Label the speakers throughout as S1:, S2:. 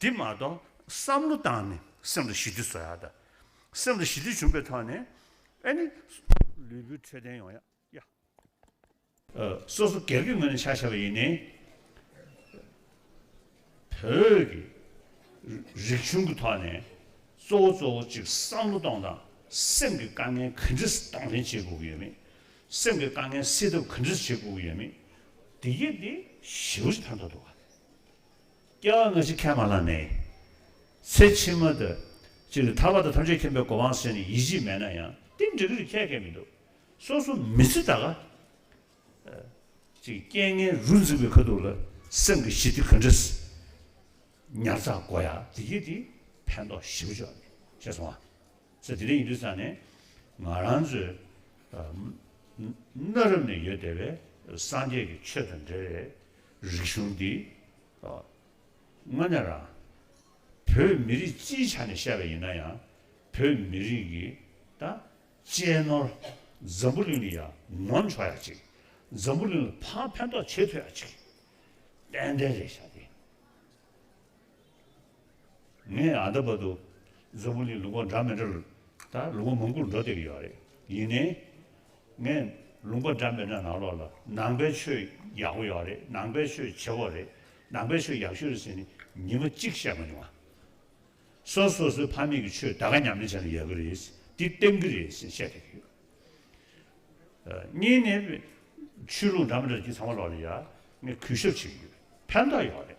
S1: དེ་མ་གཏོགས་བསམ་བློ་བཏང་ནས་སེམས་ལ་ཞི་བདེ་བཟོ་ཡག་ད། སེམས་ལ་ཞི་བདེ་བྱུང་པའི་ཐོག་ནས་ཨ་ནི། ལུས་པོའི་འཕྲོད་བསྟེན་ཡོང་ཡག་ཡ། སོ་སོ་སྒེར་གྱི་ངོས་ནས་ཆ་བྱས་པ་ཡིན་ནའི། བོད་ཀྱི་རིག་གཞུང་གི་ཐོག་ནས་གཙོ་བོ་གཙོ་བོ་གཅིག་བསམ་བློ་གཏོང་དང་སེམས་ཀྱི་དཀའ་ངལ་ག་འདྲས་གཏོང་ལེན་བྱེད་དགོས་ཀྱི་ཡོད་མེད། སེམས་ཀྱི་དཀའ་ངལ་སེལ་ཐབས་ག་འདྲས་བྱེད་དགོས་ཀྱི་ཡོད་མེད། དེ་གྱིས་དེ་ཞི་བ་ཞིག་ཕན་ཐོགས་འདུག་ག། སྐྱེ་བ་སྔ་ཕྱི་ཁས་མ་བླངས་ནས། ཚེ་ཕྱི་མ་དུ། ཅི་རིགས་ཐར་བ་དང་ཐམས་ཅད་མཁྱེན་པའི་གོ་འཕང་སེམས་ནས་ཡིད་ཆེས་མེད་ན་ཡང་དེ་འགྲིག་རིགས་ཁྱད་ཁས་མི་འདུག། སོ་སོ་མི་ཚེ་ད་ག། ཅིག་རྐྱེན་ངན་རུ་འཛེགས་པའི་ཁ་ཐུག་ལ་སེམས་ཀྱི་ཞི་བདེ་ག་འདྲ། ཉར་ཚགས་དགོས་ཡ་དེ་སྐྱེས་དེ་ཕན་ཐོགས་ཞི་བོ་ཆོག་ནས་ཤེས་སོང་བ། ཚེ་དེ་འདྲ་ཡིན་དུས་ཚང་ནས་ང་རང་ཚོའི། གནའ་རབས་ནས་ཡོད་བསྡད་པའི་སངས་རྒྱས་ཀྱི་ཆོས་དང་འབྲེལ་བའི་རིག་གཞུང་འདི། དངོས་གནས་རང། བོད་མི་རིགས་སྤྱིའི་ཆ་ནས་བཤད་པ་ཡིན་ན་ཡང། བོད་མི་རིགས་ཀྱི། ད། གཅེས་ནོར། འཛམ་བུ་གླིང་ནས་ཡང་ནོར་འཕྱོ་ཡག་ཅིག། འཛམ་བུ་གླིང་ལ་ཕན་ཐོགས་ཆེ་ཐུབ་ཡག་ཅིག། ཏན་ཏན་རེད་བྱ་དེ། ངས་ཨ་མདོ་བར་དུ་མཛོ་མོ་ལིས་ལུག་པ་འདྲ་མི་འདྲ་རུ་ད་ལུག་པ་མང་པོར་འགྲོ་བསྡད་ཀྱི་ཡོད་རེད་ཡིན་ནའི། ངས་ལུག་པ་འདྲ་མི་འདྲ་ནང་ལོགས་ལ་ནང་པའི་ཆོས་ཡག་པོ་ཡོད་རེད་ནང་པའི་ཆོས་བྱེད་པོ་རེད་ནང་པའི་ཆོས་ཡག་ཤོས་རེད་ཟེར་ནས་ཉིན་མ་གཅིག་བཤད་མ་མྱོང་ཨ། སོ་སོ་སོའི་ཕ་མེས་ཀྱི་ཆོས་ད་ག་ཉམས་ལེན་བྱས་ན་ཡག་གི་རེད་འདི་བསྟེན་གི་རེད་ཟེར་བཤད་བསྡད་ཀྱི་ཡོད། གཉིས་ནས། ཆོས་ལུགས་འདྲ་མི་འདྲ་རྒྱུ་ཚང་མ་ལོགས་ལ་ཡ་ངས་གུས་ཞབས་བྱེད་ཀྱི་ཡོད་ཕན་ཐོགས་ཡོད་རེད།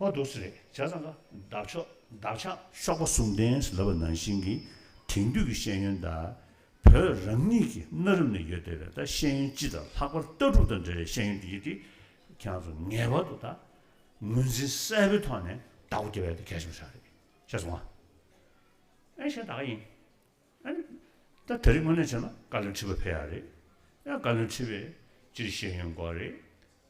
S1: ཨོ་འདུག་སེ་རེད་བྱས་ཙང་ཀ། འདབ་ཆགས་འདབ་ཆགས། གཤོག་པ་གསུམ་ལྡན་ཞེས་ལབ་པ་ནང་བཞིན་གྱི་དེང་དུས་ཀྱི་ཤེས་ཡོན་དག་བོད་རང་ཉིད་ཀྱི་གནའ་རབས་ནས་ཡོད་བསྡད་པའི་དག་ཤེས་ཡོན་སྤྱི་དང་ལྷག་པར་ལྟ་གྲུབ་དང་འབྲེལ་བའི་ཤེས་ཡོན་དེ་ཡིན་ཏེ། ཁྱེད་རང་ཚོ་ངེས་པར་དུ་དག་ངོས་འཛིན་གསལ་པོའི་ཐོག་ནས་དག་གོ་བདེ་བས་དེ་གལ་ཆེན་པོ་ཆགས་རེད་བྱས་སོང་ཨ། ཨེ་ཤེས་དག་ཡིན་ཨེ། ད་དེ་རིགས་དངོས་གནས་བྱས་ན་བཀའ་བློན་ཁྲི་པ་ཕེབས་ཡག་རེད། བཀའ་བློན་ཁྲི་པས་སྤྱིར་ཤེས་ཡོན་སྐོར་རེད།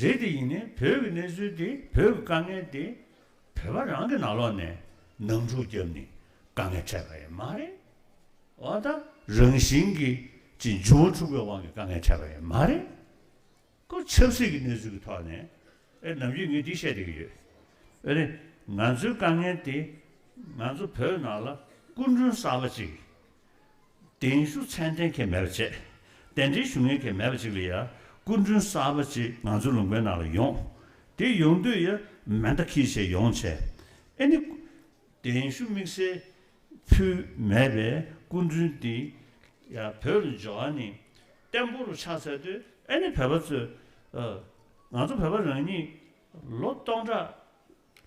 S1: རེད་དེ་ཡིན་ནའི་བོད་ཀྱི་གནས་ཚུལ་དེ་བོད་ཀྱི་དཀའ་ངལ་དེ་བོད་པ་རང་གི་ནང་ལོག་ནས་ནང་འཁྲུག་རྒྱབ་ནས་དཀའ་ངལ་འཕྲད་པ་ཡིན་མ་རེད་འོ་ད་རང་བཞིན་གྱི་ཅི་འཇུ་བོ་འཁྲུག་པའི་དབང་གི་དཀའ་ངལ་འཕྲད་པ་ཡིན་མ་རེད་ཀོ་ཆབ་སྲིད་ཀྱི་གནས་ཚུལ་གྱི་ཐོག་ནས་ཨེ་ནམ་རྒྱུས་ངས་འདི་བཤད་བསྡད་ཀྱི་ཡོད་རེད་ང་ཚོའི་དཀའ་ངལ་དེ་ང་ཚོ་བོད་ནང་ལ་སྐུ་མགྲོན་གསར་པ་ཅིག། གདན་ཞུ་ཚད་ལྡན་གྱི་མེད་པ་བཅས། གདན་འདྲེན་ཞུ་ངེས་ཀྱི་མེད་པ་བཅས་ལ་ཡང་སྐུ་མགྲོན་གསར་པ་གཅིག་ང་ཚོའི་ལུང་པའི་ནང་ལ་ཡོང། དེ་ཡོང་དུས་ཡང་མེ་མདའ་ཁྱི་བྱས་ཡོང་བྱས། ཨེ་ནི། གདན་ཞུ་དམིགས་བསལ་ཕུལ་མེད་པའི་སྐུ་མགྲོན་འདི་ཡང་བོད་ལ་འབྱོར་བ་ནི་བརྟན་པོ་རུ་ཆགས་ཚར་དུས་ཨེ་ནི་བོད་པ་ཚོས། ང་ཚོ་བོད་པ་རང་ཉིད་ལོ་སྟོང་ཕྲག་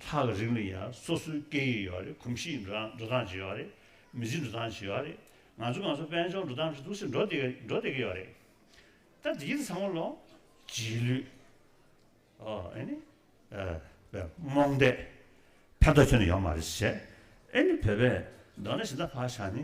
S1: ལྷག་གི་རིང་ལ་ཡིན་ཡང་སོ་སོའི་སྐད་ཡིག་ཡོད་རེད་གོམས་གཤིས་འགྲོ་སྟངས་ཇི་ཡོད་རེད་མི་ཚེ་འགྲོ་སྟངས་ཇི་ཡོད་རེད་ང་ཚོ་ང་ཚོ་དཔལ་འབྱོར་འགྲོ་སྟངས་ཇི་ཐུགས་སེ་འགྲོ་བསྡད་འགྲོ་བསྡད་ཀྱི་ཡོད་རེད་ད་དེ་གྱིས་ཚང་མ་ལོ་རྗེས་ལུས་ཨོ་ཨེ་ནི་བོད་རྨོངས་དད་ཕན་ཐོགས་ཁྱོན་ནས་ཡོད་མ་རེད་ཟེར་ཨེ་ནི་བོད་པས་མདོར་ན་ཞེ་ད་བག་ཆགས་ནི་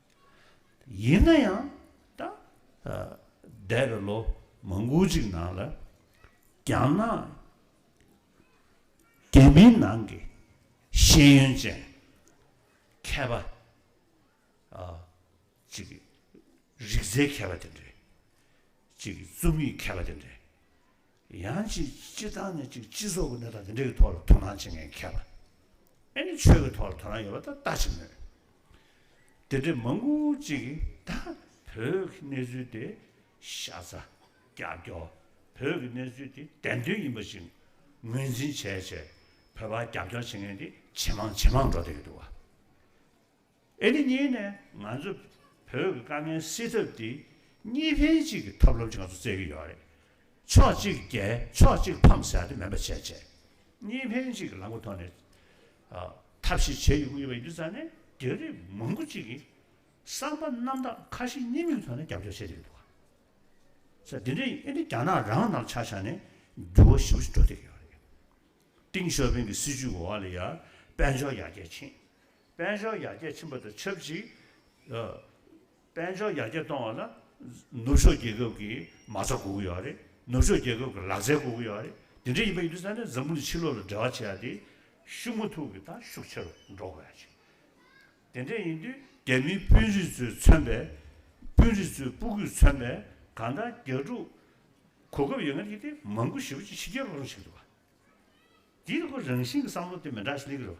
S1: ཡིན་ན་ཡང་ད་འདས་པའི་ལོ་མང་པོ་ཞིག་ནང་ལ་རྒྱ་ནག་རྒྱལ་མིའི་ནང་གི་ཤེས་ཡོན་ཅན་མཁས་པ་ཅིག་རིག་རྩལ་མཁས་པ་དེ་འདྲས་ཅིག་རྩོམ་ཡིག་མཁས་པ་དེ་འདྲས་ཡང་ཅིག་སྤྱི་བཏང་ནས་ཅིག་སྤྱི་ཚོགས་ཀྱི་གནས་སྟངས་དེ་འདྲ་ཡི་ཐོག་ལ་དོ་སྣང་བྱེད་མཁན་མཁས་པ་ཨེ་ནི་ཆོས་ཀྱི་ཐོག་ལ་དོ་སྣང་ཡོད་པ་ད་ལྟ་ཆེ་མོད། དེ་འདྲའི་མང་པོ་ཅིག་གིས་ད་བོད་ཀྱི་གནས་ཚུལ་དེ་ཤ་ཚ་ཀྱག་ཀྱོག་བོད་ཀྱི་གནས་ཚུལ་དེ་བདེན་དོན་ཡིན་པ་ཞིག་ངོས་འཛིན་བྱས་བྱས་བོད་པ་ཀྱག་ཀྱོག་བྱེད་མཁན་དེ་ཇེ་མང་ཇེ་མང་འགྲོ་བསྡད་ཀྱི་འདུག་བ། ཨེ་ནི་གཉིས་ནས་ང་ཚོ་བོད་ཀྱི་དཀའ་ངལ་སེལ་ཐབས་དེ་གཉིས་ཕན་གཅིག་གི་ཐབས་ལམ་ཅིག་ང་ཚོ་བཙལ་གྱི་ཡོད་རེད། ཕྱོགས་གཅིག་རྒྱལ་ཕྱོགས་གཅིག་ཕམ་ཟེར་དེ་མིན་པ་བྱས་རྗེས་གཉིས་ཕན་གཅིག་གི་ལམ་གྱི་ཐོག་ནས་ཐབས་ཤེས་བྱེད་ཡོང་གི་ཡོད་པ་ཡིན་དུས་རྩ་ནས་རྒྱ་རིགས་མང་པོ་གཅིག་གིས་བསམ་པ་རྣམ་དག་ཁ་ཞེ་གཉིས་མེད་ཀྱི་ཐོག་ནས་རྒྱབ་སྐྱོར་བྱས་ཀྱི་ཡོད་འདུག་ག། དེ་འདྲའི་ཨེ་ནི་རྒྱ་ནག་རང་དང་ཆ་ཆ་ནས་འགྱུར་བ་ཞིབ་པོ་ཞིག་འགྲོ་བསྡད་ཀྱི་ཡོད་རེད། ཏིང་ཞོ་ཕིང་གི་སྲིད་བྱུས་འོག་ལ་ཡར་དཔལ་འབྱོར་ཡར་རྒྱས་ཕྱིན། དཔལ་འབྱོར་ཡར་རྒྱས་ཕྱིན་པ་དང་ཆབས་ཅིག་དཔལ་འབྱོར་ཡར་རྒྱས་གཏོང་བ་ལ་ནུབ་ཕྱོགས་རྒྱལ་ཁབ་ཀྱི་མ་རྩ་སྒུག་གི་ཡོད་རེད། ནུབ་ཕྱོགས་རྒྱལ་ཁབ་ཀྱི་ལག་རྩལ་སྒུག་གི་ཡོད་རེད། དེ་འདྲ་ཡིན་པ་ཡིན་དུས་ས་གནས་འཛམ་བུ་ནས་ཕྱི་ལོག་ལ་འབྲེལ་བ་བྱེད་ཡ་དེ་ཤུགས་མུ་ཐུག་གི་དང་ཤུགས་ཆེ་རུ་འགྲོ་དགོས་ཡ་ཆེ། དེ་འདྲ་ཡིན་དུས་རྒྱ་མིའི་དཔོན་རིགས་ཚོའི་མཚོན་པའི་དཔོན་རིགས་ཚོའི་སྤུ་གུས་མཚོན་པའི་གང་དང་རྒྱ་ཕྲུག་གོ་སྐབས་ཡོད་ངེས་ཀྱི་དེ་མང་དགུ་ཞེ་བོ་ཅིག་ཕྱི་རྒྱལ་ལོག་རུང་བྱེད་ཐུབ་པ། དེའི་ཐོག་རང་བཞིན་གྱི་བསམ་བློ་དེ་མི་འདྲ་ཞིག་གནས་ཀྱི་རེད་བ།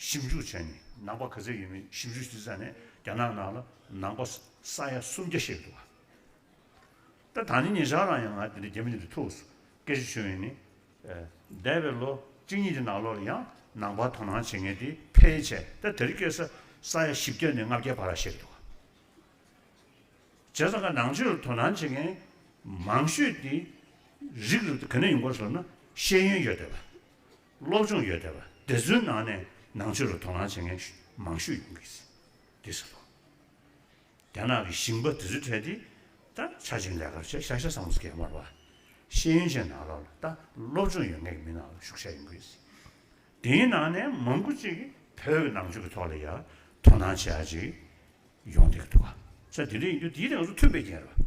S1: ཞིབ་འཇུག་བྱས་ནས་ནང་པ་ག་ཚད་ཡོད་མེད་ཞིབ་འཇུག་བྱེད་ས་ནི་རྒྱ་ནག་ནང་ལ་ནང་པ་ས་ཡ་སུམ་བརྒྱ་ཤས་འདུག་ད་ད་ནི་ངེད་ཅག་རང་ཡང་ང་དེ་འདྲའི་རྒྱ་མི་དེ་འདྲའི་ཐུགས་སུ་སྐད་ཆ་བྱོན་ཡོད་ནི། འདས་པའི་ལོ་གཅིག་གཉིས་ཀྱི་ནང་ལོགས་ལ་ཡང་ནང་པ་དོ་སྣང་བྱེད་མཁན་དེ་ཕལ་ཆེར་ད་དེར་སྐྱེས་ས་ས་ཡ་བཞི་བརྒྱ་ནས་ལྔ་བརྒྱའི་བར་ལ་བཤད་འདུག་བྱས་ཙང་ང་ནང་ཆོས་ལ་དོ་སྣང་བྱེད་མཁན་མང་ཤོས་དེ་རིགས་རུ་དེ་ག་ནས་ཡོང་གོ་ཞེས་ཟེར་ན་ཤེས་ཡོན་ཡོད་བསྡད་པ། སློབ་སྦྱོང་ཡོད་དེ་བ་དེ་ཚོའི་ནང་ནས་ནང་ཆོས་ལ་དོ་སྣང་བྱེད་མཁན་མང་ཤོས་ཡོང་གི་སྲིད། དེ་ཟེར་ལོ། རྒྱ་ནག་གི་ཞིང་པ་དེ་ཚོའི་གྲས་དེ་ད་ཆ་ཅིང་ལས་ཀར་ཆེད་ཤ་ཤ་ས་མོ་སྐྱེལ་མར་བ་ཤེས་ཡོན་ཅན་ནང་ལ་ལ་ད་སློབ་སྦྱོང་ཡོད་མཁན་གྱི་མི་ནང་ལ་ཞུགས་ཤ་ཡོང་གི་སྲིད། དེའི་ནང་ནས་མང་པོ་ཅིག་གིས་བོད་ཀྱི་ནང་ཆོས་ཀྱི་ཐོག་ལ་ཡར་དོ་སྣང་བྱེད་ཡ་ཅིག་ཡོང་སྡད་ཀྱི་འདུག་ག་ཚ་དེ་འདྲ་ཡིན་དུས་དེའི་དེ་ང་ཚོ་མཐུན་པའི་རྐྱེན་རེད་བ།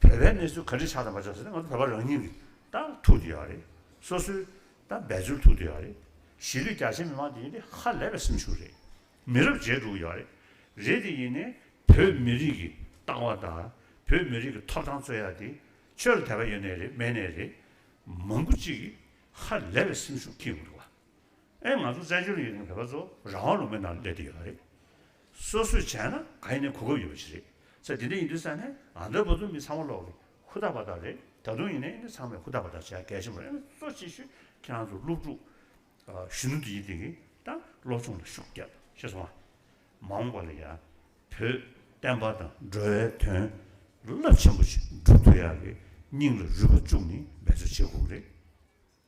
S1: བོད་པའི་གནས་ཚུལ་ག་འདྲི་ཆགས་དང་མ་ཆགས་ཟེར་ན་ང་ཚོ་བོད་པ་རང་ཉིད་ཀྱིས་ད་ཐུག་དུ་ཡོད་པ་རེད། སོ་སོའི་ད་འབད་རྩོལ་ཐུག་དུ་ཡོད་པ་རེད། གཞིས་ལུས་རྒྱ་ཆེ་མི་མང་དེ་ཡིན་དེ་ཧ་ལས་པའི་སེམས་ཤུགས་རེད། མི་རབས་བརྗེས་འགྲོ་གི་ཡོད་པ་རེད། རེད་དེ་ཡིན་ནས་བོད་མི་རིགས་ཀྱི་ལྟ་བ་དང་བོད་མི་རིགས་ཀྱི་ཐོབ་ཐང་རྩོད་ཡག་དེ་ཆོས་ལ་དད་པ་ཡོད་ནས་རེད་མེད་ནས་རེད། མང་པོ་ཅིག་གིས་ཧ་ལས་པའི་སེམས་ཤུགས་ཁེངས་ཡོང་གི་ཡོད་པ། ཨེ་ང་ཚོ་བཙན་བྱོལ་ཡུལ་ནང་བོད་པ་ཚོ་རང་དབང་ལུང་པའི་ནང་སླེབས་ཏེ་ཡོད་པ་རེད། སོ་སོས་བྱས་ན་ག་ཡིན་ནའི་གོ་སྐབས་ཡོད་པ་ཞིག་རེད། ཚེ་འདི་འདྲ་ཡིན་དུས་ས་ནས་ང་ཚོའི་བུ་ཚོ་མི་ཚང་མ་ལོག་གི་ཧུར་ཐག་པ་དག་རེད་ད་དུང་ཡིན་ནའི་ཡིན་ནའི་ཚང་མས་ཧུར་ཐག་པ་དག་བྱས་གལ་ཆེན་པོ་ཨེ་ང་ཚོ་ཅིག་ཤོས་ཁྱེད་རང་ཚོ་སློབ་ཕྲུག་གཞོན་ནུ་འདི་ཡིན་དུས་དང་སློབ་སྦྱོང་ལ་ཤུགས་རྒྱབ་ཤེས་སོང་ཨ། མ་འོངས་པ་ལ་ཡང་བོད་བསྟན་པ་དང་འགྲོ་བའི་དོན་རླབས་ཆེན་པོ་ཞིག་བསྒྲུབ་ཐུབ་ཡག་གི་སྙིང་ལ་རུས་པ་བཅུག་ནས་འབད་རྩོལ་བྱེད་དགོས་རེད།